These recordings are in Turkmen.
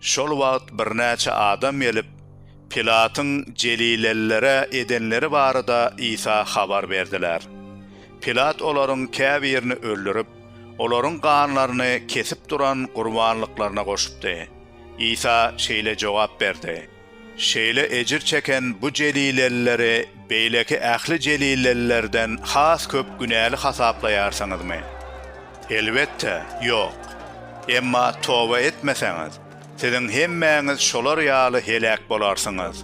Şol wagt birnäçe adam gelip, Pilatyň jelilelilere edenleri barada Isa habar berdiler. Pilat olaryň käbirini öldürip, olaryň ganlaryny kesip duran gurbanlyklaryna goşupdy. Isa şeýle jogap berdi. Şeýle ejir çeken bu jelilelileri beýleki ähli jelilelilerden has köp günäli hasaplaýarsyňyzmy? Elbetde, ýok. Emma toba etmeseňiz, siziň hemmäňiz şolar ýaly heläk bolarsyňyz.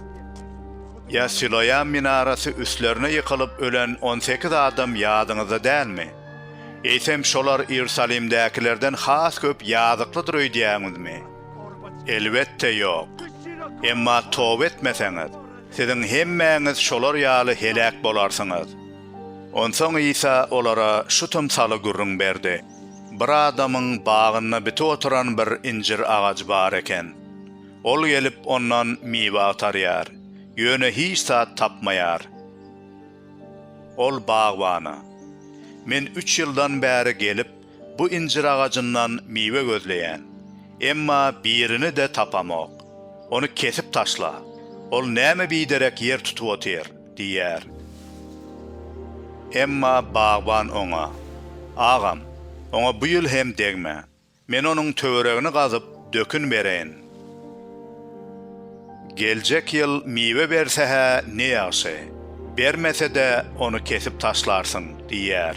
Ýa Siloam minarasy üstlerine ýykylyp ölen on sekiz adam ýadyňyzda dälmi? Eýsem şolar Iýerusalimdäkilerden has köp ýazyklydyr öýdýäňizmi? Elbetde ýok. Emma toba etmeseňiz, siziň hemmäňiz şolar ýaly heläk bolarsyňyz. Onsoň Isa olara şu tymsaly gürrüň berdi, Bir adamyň bagynda bitip oturan bir injir agajy bar eken. Ol gelip, ondan miwe agtarýar, ýöne hiç zat tapmaýar. Ol bagbana, Men üç ýyldan bäri gelip, Bu injir agajyndan miwe gözleýän. Emma birini-de tapamok. Ony kesip taşla. Ol näme biderek ýer tutup otyr? diýýär. Emma bagban oňa. Agam, oňa bu ýyl hem degme. Men onuň töweregini gazyp, dökün bereýin. Geljek ýyl miwe berse-hä ne ýagşy. Bermese-de, ony kesip taşlarsyň, diýýär.